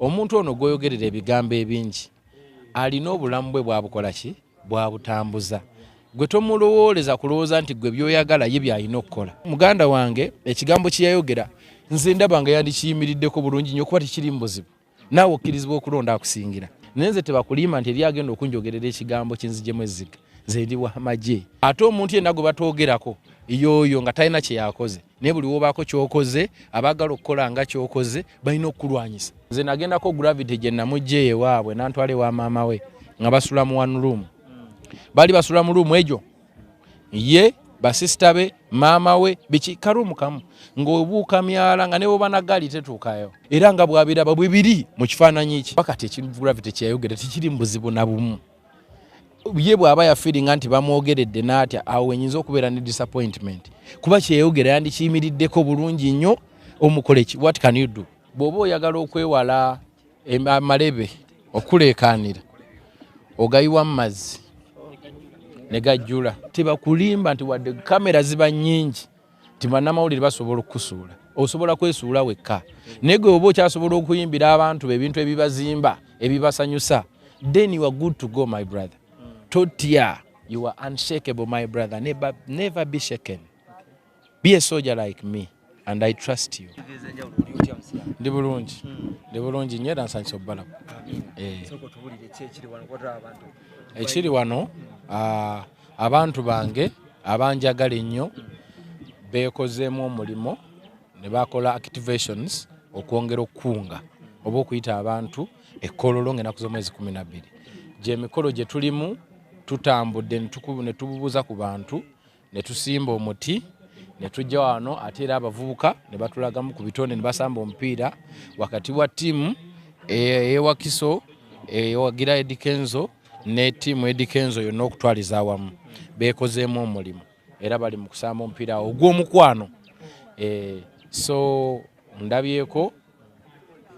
omuntu ono gwoyogerera ebigambo ebingi alina obulamu bwe bwabukola ki bwabutambuza gwe tomulowooleza kulowooza nti gwe byoyagala ye byalina okukola muganda wange ekigambo kyeyayogera nze ndaba nga yandikiyimiriddeko bulungi nyo okuba tekiri mu buzibu naawe okkirizibwa okulonda akusingira naye nze tebakulimba nti eri agenda okunjogerera ekigambo kinzijemu ezziga nze ndi wamagye ate omuntu yenna gwe batwogerako yooyo nga talina kyeyakoze naye buli wobaako kyokoze abaagala okukola nga kyokoze balina okukulwanyisa nze nagendako gravity gye namujja ewaabwe nantwala ewa maama we nga basula mu one room baali basula mu ruumu egyo ye basisita be maama we biki karuumu kamu ng'obuuka myala nga neboba na gaali tetuukayo era nga bwabiraba bwe biri mu kifaananyi ki bakati ekintu gravity kyeyayogera tekiri mu buzibu na bumu ye bw'aba yafiringa nti bamwogeredde n'atya awo wenyinza okubeera ne disappointment kuba kyeyogera yandikiyimiriddeko bulungi nnyo omukoleki what can you do bw'oba oyagala okwewala amalebe okuleekaanira ogayiwa mu mazzi ne gajjula tebakulimba nti wadde kamera ziba nnyingi nti bannamawulire basobola okukusuula osobola kwesuula wekka naye gwe oba okyasobola okuyimbira abantu be ebintu ebibazimba ebibasanyusa then you are good to go my brother totya you are unshakable my brother never, never be shaken be a soldier like me and i trust you ndi bulungi ndi bulungi nyo era nsanyisa okubalaba eh. ekiri wano ah, abantu bange abanjagala ennyo beekozeemu omulimu ne bakola activations okwongera okukunga oba okuyita abantu ekkololo ng'enaku z'omwezi kumi na bbiri gyemikolo gye tulimu tutambudde ne tububuuza ku bantu ne tusimba omuti ne tujja wano ate era abavubuka ne batulagamu ku bitonde ne basamba omupiira wakati wa ttiimu eyewakiso eyewagira edikenzo ne tiimu Eddy Kenzo yonna okutwaliza awamu beekozeemu omulimu era bali mu kusamba omupiira awo ogw'omukwano eh, so ndabyeko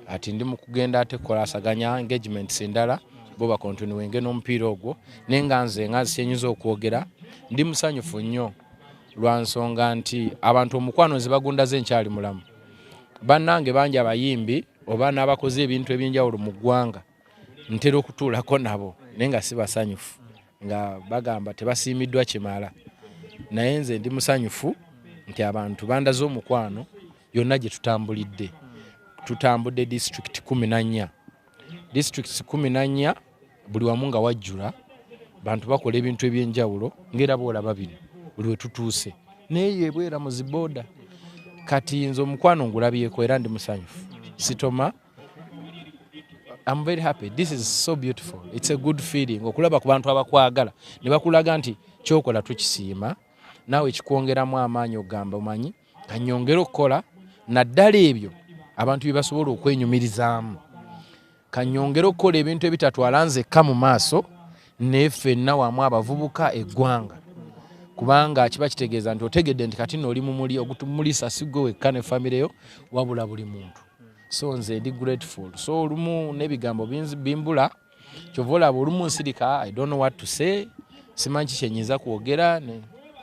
ati ndi mu kugenda ate kukola asaganya engagements endala bo bakontinuwenge n'omupiira ogwo naye nga nze nga nsikyenyinza okwogera ndi musanyufu nnyo lwa nsonga nti abantu omukwano nze bagundaze nkyali mulamu bannange bangi abayimbi oba n'abakoze ebintu eby'enjawulo mu ggwanga ntera okutuulako nabo naye nga sibasanyufu nga bagamba tebasiimiddwa kimala naye nze ndi musanyufu nti abantu bandaze omukwano yonna gye tutambulidde tutambudde disitulikiti kumi na nnya disitulikiti kumi na nnya buli wamu nga wajjula bantu bakola ebintu eby'enjawulo ng'era boolaba bino buli we tutuuse naye yebwera mu zibooda kati nze omukwano ngulabyeko era ndi musanyufu sitoma I'm very happy. This is so beautiful. It's a good feeling. Okulaba ku bantu abakwagala ne bakulaga nti kyokola tukisiima naawe kikwongeramu amaanyi ogamba omanyi kanyongere okukola naddala ebyo abantu bye basobola okwenyumirizaamu kanyongere okukola ebintu ebitatwala nzekka mu maaso naye ffenna wamu abavubuka eggwanga kubanga kiba kitegeeza nti otegedde nti kati nooli mumuli ogutumulisa sigwe wekka ne famireyo wabula buli muntu so nze ndi grateful so olumu n'ebigambo bimbula kyova olaba olumu nsirika i don't know what to say simanyi ki kyenyinza kwogera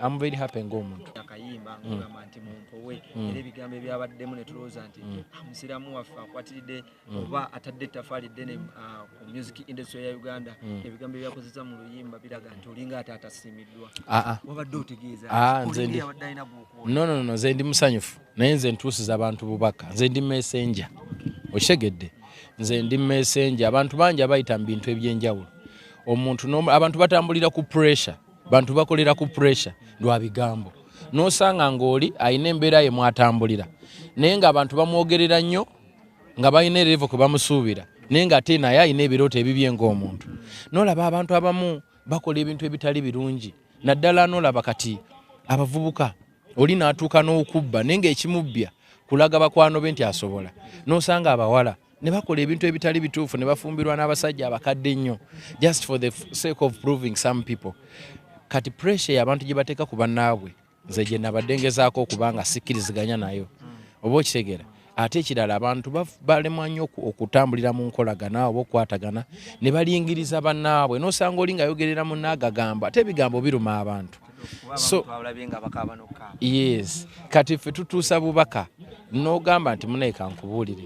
am very happy ng'omuntu akayimba mm. ngogamba nti mumpowe mm. era ebigambo ebyabaddemu ne tulowooza nti mm. ah, musiraamu waffe akwatiridde oba atadde ettafaali ddene ah, ku music industry ya uganda ebigambo ebyakozesa mu luyimba biraga nti olinga ate atasiimiddwa ah, wabadde otegeeza nze ndi musanyufu naye nze ntuusiza abantu bubaka nze ndi mesenja okitegedde nze ndi mesenja abantu bangi abayita mu bintu ebyenjawulo omuntu abantu batambulira ku pressure bantu bakolera ku pressure lwa bigambo nosanga ngaoli alina embeera ye mwatambulira naye nga abantu bamwogerera nnyo nga balina erevo kwe bamusuubira naye nga ate naye alina ebirooto ebibye ngaomuntu nolaba abantu abamu bakola ebintu ebitali birungi naddala nolaba kati abavubuka oli n'atuuka n'okubba naye ng'ekimubbya kulaga bakwano be nti asobola n'osanga abawala ne bakola ebintu ebitali bituufu ne bafumbirwa n'abasajja abakadde ennyo just for the sake of proving some people kati pressure y'abantu gye bateeka ku bannaabwe nze gye nabadde ngezaako okuba nga sikkiriziganya nayo oba okitegeera ate ekirala abantu balemwa nnyo okutambulira mu nkolagana oba okukwatagana ne balingiriza bannaabwe n'osanga oli ngayogerera munaagagamba ate ebigambo biruma abantu so yes kati ffe tutuusa bubaka n'ogamba nti munaye kankubuulire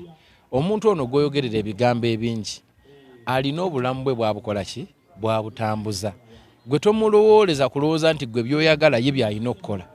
omuntu ono gwoyogerera ebigambo ebingi alina obulamu bwe bwabukola ki bwabutambuza gwe tomulowooleza kulowooza nti gwe byoyagala ye byalina okukola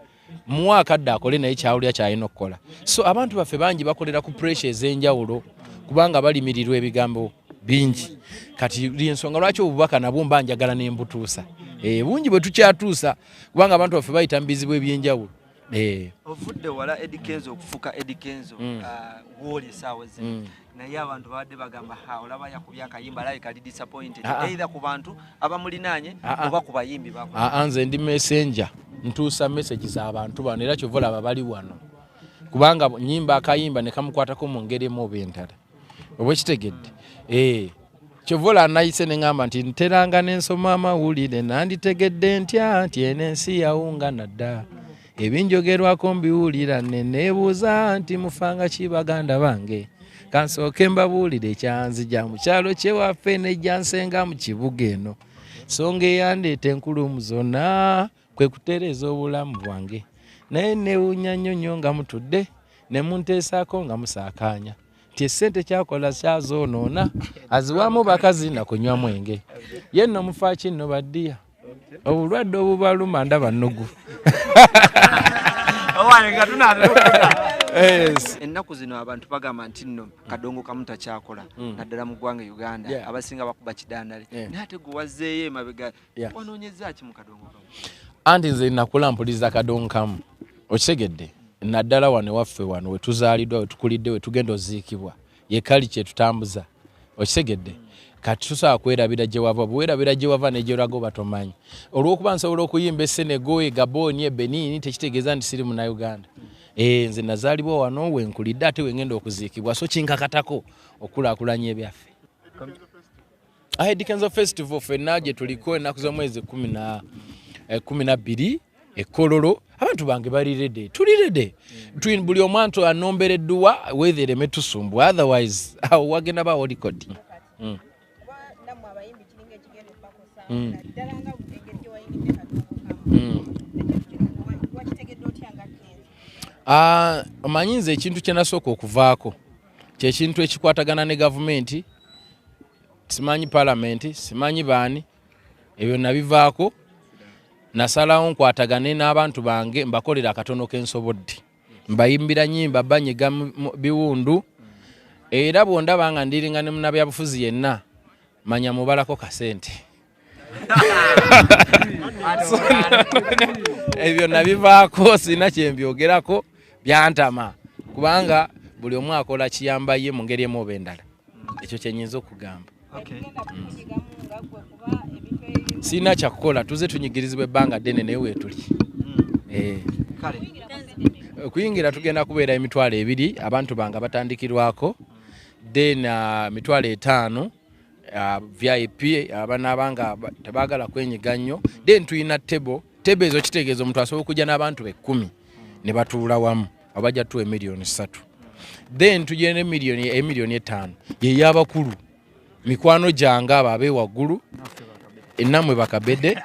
muwa akadde akole naye kyawulira kyalina okukola so abantu baffe bangi bakolera ku pressure ez'enjawulo kubanga balimirirwa ebigambo bingi kati lyensonga lwaki obubaka nabwo mba njagala nembutuusa eh, bungi bwe tukyatuusa kubanga abantu baffe bayita mu bizibu ebyenjawulo eh. ovudde wala edikenzo okufuka edikenzo mm. ah, woli esaawa zino mm. naye abantu babadde bagamba ha olaba yakubye akayimba alabe kali disappointed ah, ah. either ku bantu abamulinaanye ah, oba ku bayimbi bako nze ndi messenger ntuusa message za bantu bano era kyova olaba bali wano kubanga nyimba akayimba nekamukwatako mu ngeri emu oba endala oba ekitegedde ee eh. kyova ola nayise ne ŋamba nti nteranga ne nsoma amawulire nanditegedde ntya nti eno ensi yawungana dda ebinjogerwako mbiwulira ne neebuuza nti mufanga ki baganda bange kansooke mbabuulire ekyanzija mu kyalo kyewaffe nejjansenga mu kibuga eno songa eyandeeta enkulumu zonna kwe kutereeza obulamu bwange naye newunya nnyo nnyo nga mutudde ne munteesaako nga musaakaanya nti esente kyakola kyazoonoona aziwaamu bakazi na kunywa mwenge ye nno mufaaki nno baddiya obulwadde obubaluma ndaba nnugu ennaku zino abantu bagamba nti nno kadongo kamu takyakola mm. naddala mu ggwanga uganda abasinga bakuba kidandale naye ate gwe wazzeeyo emabega anti nze nakula mpuliza kadongo kamu okitegedde naddala wano ewaffe wano wetuzaaliddwa wetukulidde wetugenda oziikibwa yekali kyetutambuza okitegedde kati tusobola kwerabira gye wava bwerabira gye wava negyeraga oba tomanyi olwokuba nsobola okuyimba esenego egaboni ebenini tekitegeeza nti siri munauganda eh, nze nazaalibwa wano wenkulidde ate wengenda okuziikibwa so kinkakatako okukulakulanya ebyaffe Ahead Kenzo Festival fenna gye tuliko ennaku z'omwezi kumi na eh, kumi na bbiri ekololo abantu bange bali rede tuli rede mm. buli omwantu anombera edduwa wethe ereme tusumbu otherwise awo wagenda ba olikodi mm. mm. mm. ah, omanyi nze ekintu kyenasooka okuvaako kyekintu ekikwatagana ne gavumenti simanyi palamenti simanyi baani ebyo nabivaako nasalawo nkwatagane n'abantu bange mbakolera akatono kensobodde mbayimbira nyimba banyiga biwundu era bwondaba nga ndiringa ne munabyabufuzi yenna manya mubalako kasente ebyo nabivaako sirina kyembyogerako byantama kubanga buli omu akola kiyamba ye mu ngeri emu oba endala ekyo kyenyinza okugamba mm. sirina kyakukola tuze tunyigirizibwa ebbanga ddene naye weetuli mm. eh. okuyingira tugenda kubeera emitwalo ebiri abantu bange batandikirwako then uh, mitwalo etaano uh, vip abanaaba nga tebagala kwenyiga nnyo then tulina table table ezo kitegeeza omuntu asobola okujja n'abantu bekkumi ne batuula wamu abajja tuwa emiliyoni ssatu then tugenda emiliyoni emiliyoni etaano yeyabakulu mikwano gyange abo abe waggulu enamwe bakabede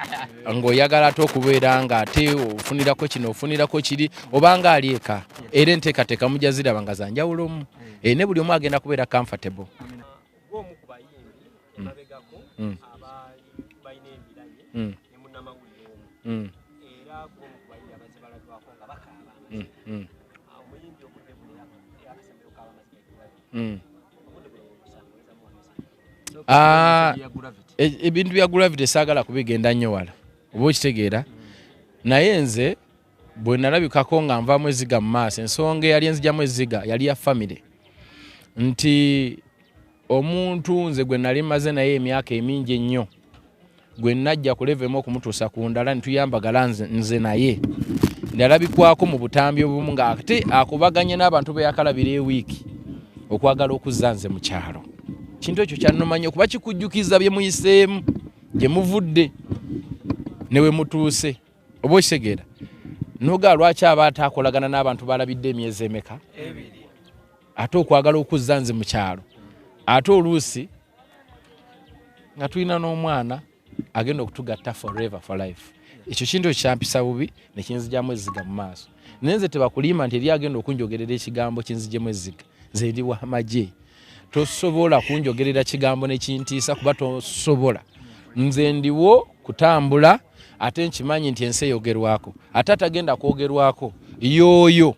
ngaoyagala ate okubeera nga ate ofunirako kino ofunirako kiri obanga ali eka era enteekateeka mujja ziraba nga zanjawulo omu eh, ne buli omu agenda kubeera comfortable mm. Mm. Mm. Mm. Mm. Mm. mm. ah, e, ebintu bya gravity saagala kubigenda nnyo wala oba okitegeera naye nze bwe nalabikako nga nvamu eziga mu maaso ensonga eyali enzijamu eziga yali ya famire nti omuntu nze gwe nali maze naye emyaka emingi ennyo gwe najja ku level emu okumutuusa ku ndala netuyambagala nze naye nalabikwako mu butambi obumu nga ate akubaganye n'abantu beyakalabira ewiiki okwagala okuzza nze mu kyalo kintu ekyo kyanumanya okuba kikujjukiza bye muyiseemu gye muvudde ne we mutuuse oba okitegeera noga lwaki aba ataakolagana n'abantu balabidde emyezi emeka ate okwagala okuzza nze mu kyalo ate oluusi nga tulina n'omwana agenda okutugatta forever for life ekyo kintu ekyampisa bubi nekinzijamu ezziga mu maaso naye nze tebakulimba nti eri agenda okunjogerera ekigambo kinzijemu ezziga nze ndi wamagye tosobola kunjogerera kigambo nekintiisa kuba tosobola nze ndiwo kutambula ate nkimanyi nti ensi eyogerwako ate atagenda kwogerwako yooyo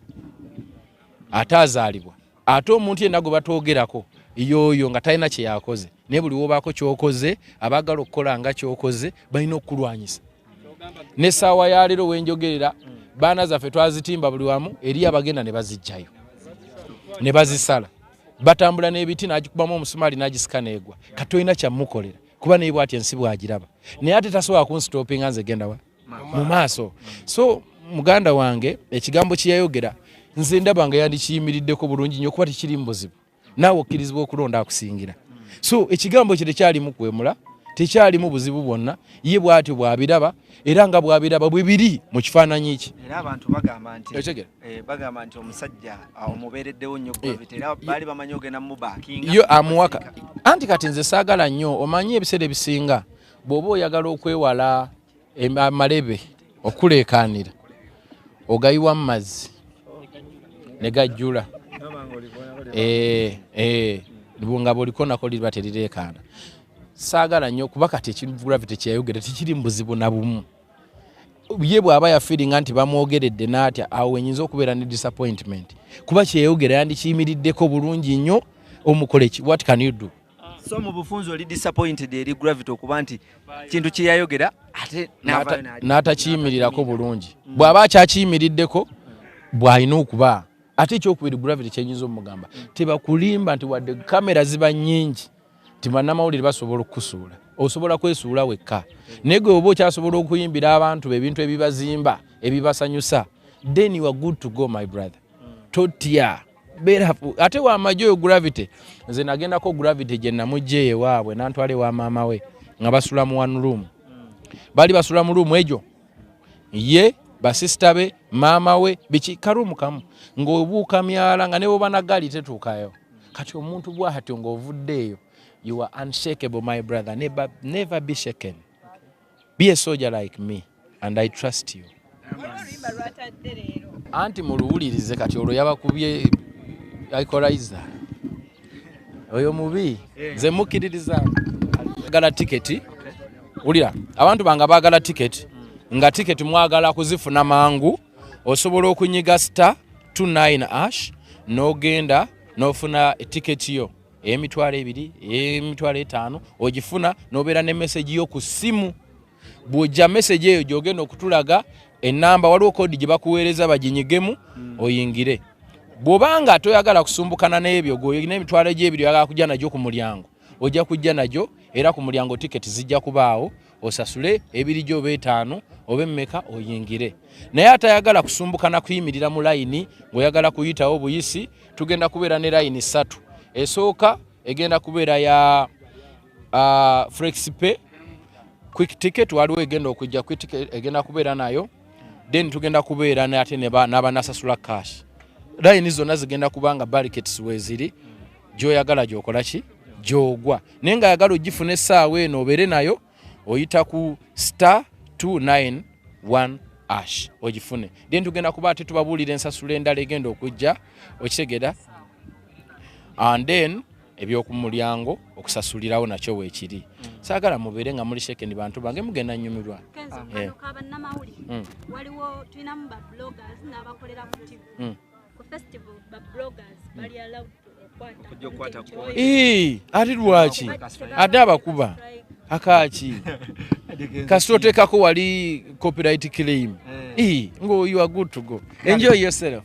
ate azaalibwa ate omuntu yenna gwe batwogerako yooyo nga talina kye yakoze naye buli wobaako kyokoze abaagala okukola nga kyokoze balina okukulwanyisa ne saawa ya leero wenjogerera baana zaffe twazitimba buli wamu eri abagenda ne bazijjayo ne bazisala batambula n'ebiti n'agikubamu omusumaali n'agisika neegwa kati olina kyamukolera kuba naye bwati ensi bwagiraba naye ate tasobola kunsitoopinga nze gendawa mu maaso so muganda wange ekigambo kyeyayogera nze ndaba nga yandikiyimiriddeko bulungi nyo kuba tekiri mu buzibu naawe okkirizibwa okulonda akusingira so ekigambo kye tekyalimu kwemula tekyalimu buzibu bwonna ye bwatyo bwabiraba era nga bwabiraba bwe biri mu kifaananyi kye era abantu bagamba nti eh, bagamba nti omusajja ah, omubeereddewo nnyo eh, era baali bamanyi ogenda mubakinga yo amuwaka anti kati nze saagala nnyo omanyi ebiseera ebisinga bw'oba oyagala okwewala amalebe okuleekaanira ogayiwa mu mazzi ne gajjula eh, eh, nga bwoliko nako liba terireekaana saagala nnyo kuba kati ekivulavi tekyeyogera tekiri mu buzibu na bumu ye bwaba yafiringa nti bamwogeredde natya awo enyinza okubeera ne disappointment kuba kyeyogera yandikiyimiriddeko bulungi nnyo omukoleki what can you do so mu bufunzi oli disappointed eri gravity okuba nti kintu kyeyayogera ate n'atakiyimirirako bulungi mm. bw'aba akyakiyimiriddeko bw'alina okuba ate ekyokubiri gravity kyenyinza omugamba mm. tebakulimba nti wadde kamera ziba nyingi nti bannamawulire basobola okukusuula osobola kwesuula wekka naye gwe oba okyasobola okuyimbira abantu be ebintu ebibazimba ebibasanyusa then you are good to go my brother mm. totya berafu ate wamaje oyo gravity nze nagendako gravity gye namujja ewaabwe nantwala ewa maama we nga basula mu one room bali basula mu room egyo ye basisita be maama we biki karumu kamu ng'obuuka myala nga nebo banagali tetuukayo kati omuntu bwahatyo ng'ovuddeeyo you are unshakable my brother never, never be shaken Be a soldier like me and I trust you. Anti muluwulirize kati olwo yabakubye equalizer. Oyo mubi eh. nze mukkiririza agala tiketi wulira abantu bange baagala tiketi nga tiketi mwagala kuzifuna mangu osobola okunyiga star 29 ash n'ogenda n'ofuna tiketi yo emitwalo ebiri emitwalo etaano ogifuna nobeera ne meseji yo ku ssimu bwojja meseji eyo gyogenda okutulaga enamba waliwo kodi gye bakuweereza baginyigemu hmm. oyingire bwoba nga toyagala kusumbukana n'ebyo golina emitwalo egyebiri oyagala kujja nagyo ku mulyango ojja kujja nagyo era ku mulyango tiketi zijja kubaawo osasule ebirijo oba etaano oba emmeka oyingire naye atayagala kusumbuka na kuyimirira mu layini ng'oyagala kuyitawo obuyisi tugenda kubeera ne layini ssatu esooka egenda kubeera ya uh, flexipe quick ticket waliwo egenda okujja quick ticket egenda kubeera nayo then tugenda kubeera ate n'abanasasula cash layini zonna zigenda kubanga barikets weziri gyoyagala gyokola ki gyogwa naye nga yagala ogifuna essaawa eno obeere nayo oyita ku star 291 ash ogifune then tugenda kuba ate tubabuulira ensasula endala egenda okujja okitegera and then ebyokumulyango okusasulirawo nakyo wekiri mm. sagala mubeere nga muli shekeni bantu bange mugenda nyumirwa eh. mm. waliwo tulinamu ba bloggers n'abakolera ku tv mm. ate lwaki ate abakuba akaki kasita oteekako wali copyright claim eh. ngo you are good to go enjoy yourself